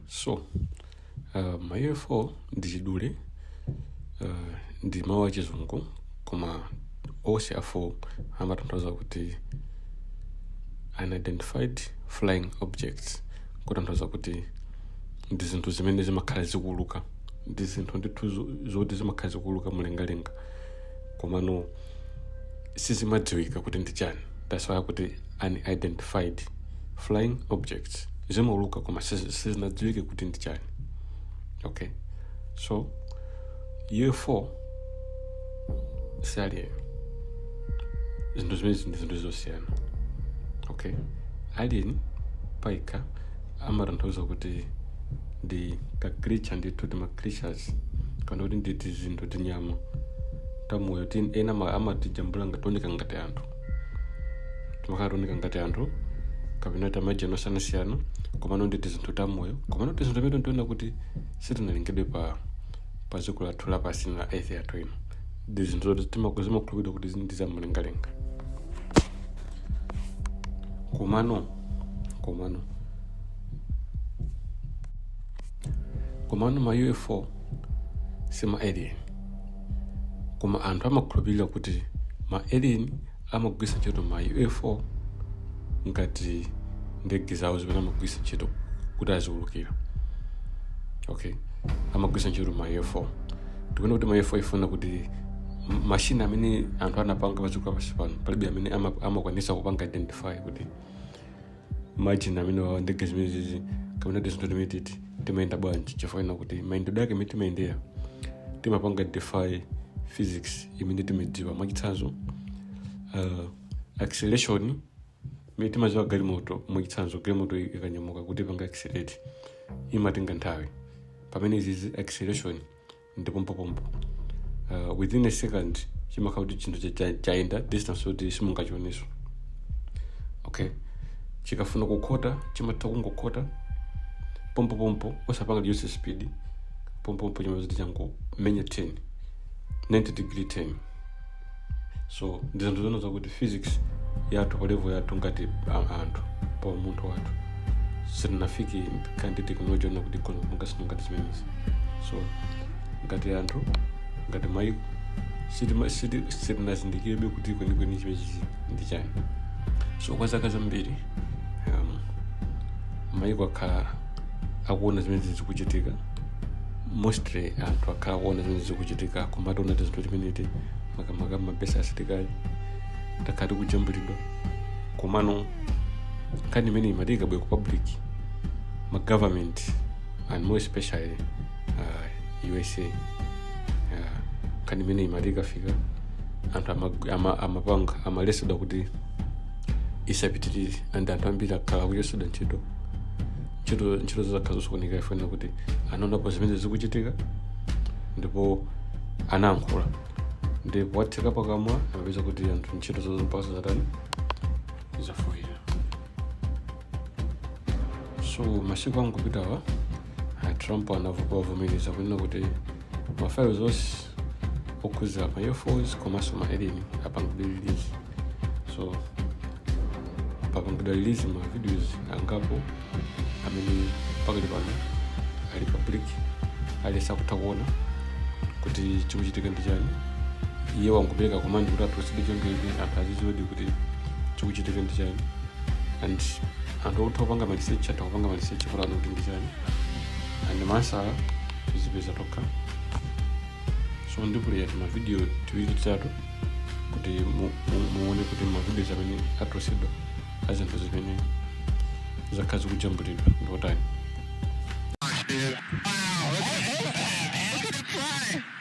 so uh, ma ufo ndi chidule uh, ndi mawu achizungu koma onse awo amatanthauza kuti unidentified flying objects kutanthauza kuti ndi zinthu zimene zimakhala zikuuluka ndi zinthu ndithu zo- zoti zimakhala zikuuluka mlengalenga komano sizimadziwika kuti ndi chani that's why akuti unidentified flying objects zimauluka koma sizi- sizinadziwike kuti ndi chani okay so ufo si alien zinthu zimenezi ndi zinthu zosiyana okay alien payekha amatanthauza kuti ndi ka creature ndithu ti ma creatures kapena kuti ndi tizinthu tinyama tamoyo tin ena ama- amatijambula ngati ooneka ngati anthu timakhala tikuoneka ngati anthu kapena tamajani osiyanasiyana komano ndi tizinthu tamoyo komano tizinthu timene tinena kuti sitinalengedwe pa pa dziko lathu lapansi la earth yathu ino ndi zinthu zoti timaku- zimakhulupirira kuti ndi zamlengalenga komano komano komano ma ufo si ma alien koma anthu amakhulupirira kuti ma alien amagwiritsa ntchito ma ufo ngati ndege zawo zimene amagwiritsa ntchito kuti aziwulukira okay amagwiritsa ntchito ma ufo tikunena kuti ma ufo ikuoneka kuti m- mashini amene anthu anapanga padziko lapansi pano palibe amene ama- amakwanisa kupanga identify kuti mashini amene awawa ndege zimenezi kapena tizinthu timene titi timayenda bwanji chifukwa chonena kuti mayendedwe ake mmene timayendera timapanga defy physics imene timadziwa mwachitsanzo uh, acceleration imene timadziwa galimoto mwachitsanzo galimoto ikanyamuka kuti ipange accelerate imatenga nthawi pamene izizi acceleration ndi pompopompo uh, within a second chimakhala kuti chinthu cha- cha- chayenda distance yoti simungachioneso okay chikafuna kukhota chimatha kungokhota pompopompo osapanga reduce speed pompopompo chimadzati changomenya turn 90 degree turn so ndi zinthu zonena zakuti physics yathu pa level yathu ngati a- anthu pa umunthu wathu sitinafike pokhala ndi teknoloji yonena kuti ikhoza kupanga zinthu ngati zimenezi so ngati anthu ngati maiko sitima- siti- sitinazindikirebe kuti kwenikweni chimenechichi ndi chani so kwa zaka zambiri um, maiko akhala akuona zimene zikuchitika mostly anthu akhala akuona zimene zikuchitika akumationa tizinthu timeneti makamaka ma base a asilikali takhala tikujambulidwa komano nkhani imene imati ikabwera ku public ma government and more especially uh, usa uh, nkhani imene imati ikafika anthu ama- ama- amapanga amaletsedwa kuti isapitirire and anthu ambiri akhala akuchotsedwa ntchito ntchito ntchito zizakhala zosokoneka chifukwa choti anaonapo zimene zikuchitika ndipo anayankhula ndi kuwatseka pakamwa amapeza kuti anthu ntchito zawo zaumpasa zatani zafoira so masiku angopitawa a trump anavomereza kunena kuti ma files onse okhuza ma ufos komanso ma alien apangidwa release so apangidwa release ma videos angapo amene pakali pano ali public aliyense akutha kuona kuti chikuchitika ndi chani iye wangopereka command kuti atulutsidwe cholinga anthu aziziwedi kuti chikuchitika ndi chani and anthu okutha kupanga ma research atha kupanga ma research kuti aone kuti ndi chani and mwatsala tizipeza tokha so ndipuleya timavidiyo tiwiri titatu kuti mu- mu- muone kuti ma videos amene atulutsidwa a zinthu zimene zakhala zikujambulidwa ndi otani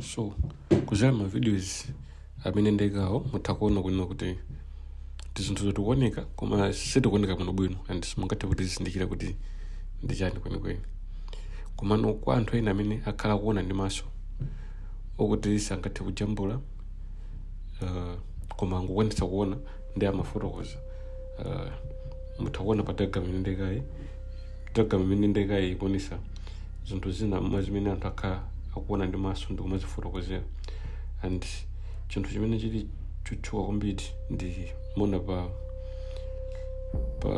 so kuzera ma videos amene ndaikawo mutha kuona kunena kuti tizinthuzo tikuoneka koma sitikuoneka bwino bwino and simungathe kutizindikira kuti ndi chani kwenikweni komano kwa anthu ena amene akhala kuona ndi maso okuti sangathe kujambula uh, koma angokwanitsa kuona ndi amafotokoza uh, mutha kuona pa diagram imene ndaikayi diagram imene ndaikayi ikuonesa zinthu zina mwa zimene anthu akhala akuona ndi maso ndi kumazifotokozera and chinthu chimene chili chotchuka kwambiri ndi muona pa pa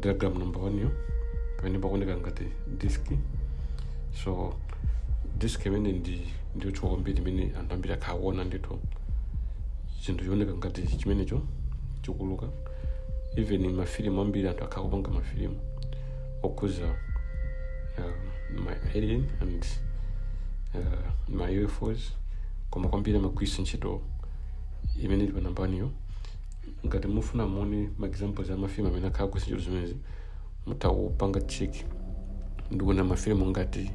diagram number one yo pamene pakuoneka ngati disk so disk imeneyo ndi yotchuka kwambiri imene anthu ambiri akhala kuona ndithu chinthu chooneka ngati chimenecho chikuuluka even mafilimu ambiri anthu akhala kupanga mafilimu okhuza uh, ma alien and uh, ma ufos koma kwambiri amagwiritsa ntchito imene ili pa number one yo ngati mufuna muone ma examples a mafilimu amene akhala kugwiritsa ntchito zimenezi mutawupanga check ndikuona mafilimu ngati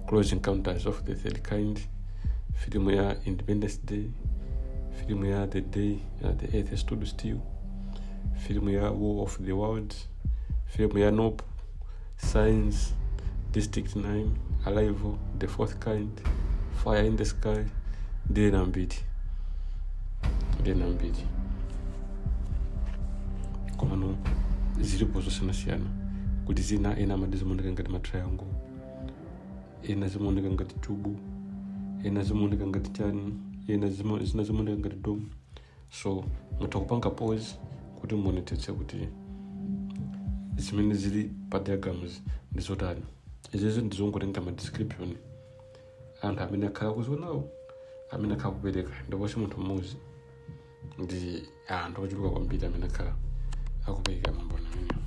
close encounters of the third kind filimu ya independence day filimu ya the day uh, the earth stood still filimu ya war of the world filimu ya nope science district 9 arrival the fourth kind fire in the sky ndili nambiri ndili nambiri komano zilipo zosiyanasiyana kuti zina ena amati zimaoneka ngati matriangle ena zimaoneka ngati chubu ena zimaoneka ngati chani ena zima- zina zimaoneka ngati dome so mutha kupanga pause kuti muonetsetse kuti zimene zili pa diagrams ndi zotani izizi ndizongotenga ma description anthu amene akhala kuzionawo amene akhala kupereka ndipo si munthu mmodzi ndi anthu ochuluka kwambiri amene akhala akupereka maumboni amenewa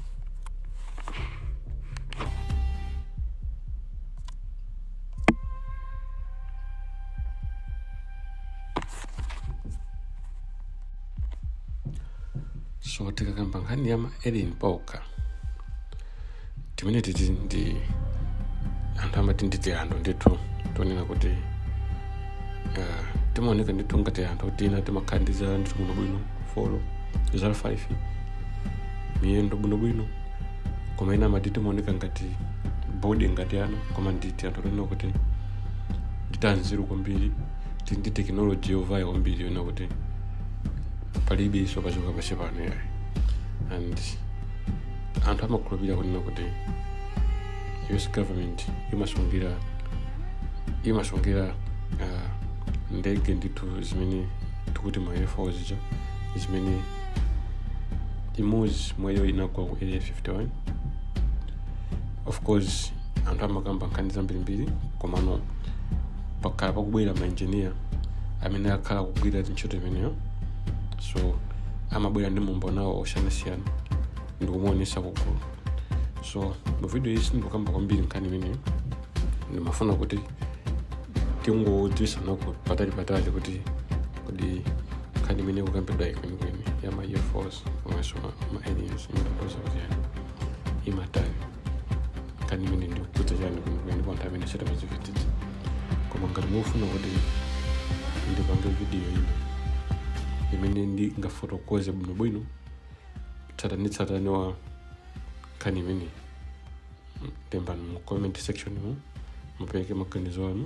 so tikakamba nkhani ya ma alien pauka timene titi ndi anthu amati ndi tianthu ndithu tonena kuti ah, timaoneka ndithu ngati anthu tina timakhala ndi dzanja ndithu bwinobwino folo zala 5 miyendo bwinobwino koma ena amati timaoneka ngati body ngati ana koma ndi tianthu tonena kuti ndi tanzeru kwambiri tili ndi tekinoloji yovayo kwambiri yonena kuti palibenso pa dziko lapansi pano yayi and anthu amakhulupirira kunena kuti us government imasungila imasungila uh, ndege ndithu zimene tikuti ma ufo zija zimene imodzi mwayo inagwa ku area 51 of course anthu amakamba nkhani zambirimbiri komano pakhala pakubwera maengineer amene akhala kugwira ntchito imeneyo so amabwera ndi maumboniwo osiyanasiyana ndikumaonetsa kugulu so mu video iyi sindikukamba kwambiri nkhani imeneyo ndimafuna kuti tingodziwitsanako patali patali kuti kodi nkhani imene ikukambidwa yikwenikweni ya ma ufos komanso ma aliens imatanthauza kuti chani imatani nkhani imene ikukhudza chani kwenikweni ndipo anthu amene sitimazidziwitsitsa koma ngati mufuna kuti ndipange vidiyo ino imene ndingafotokoze bwinobwino tsatanitsatane wa nkhani imeneyi lembani mu comment sectionmu mupereke maganizo anu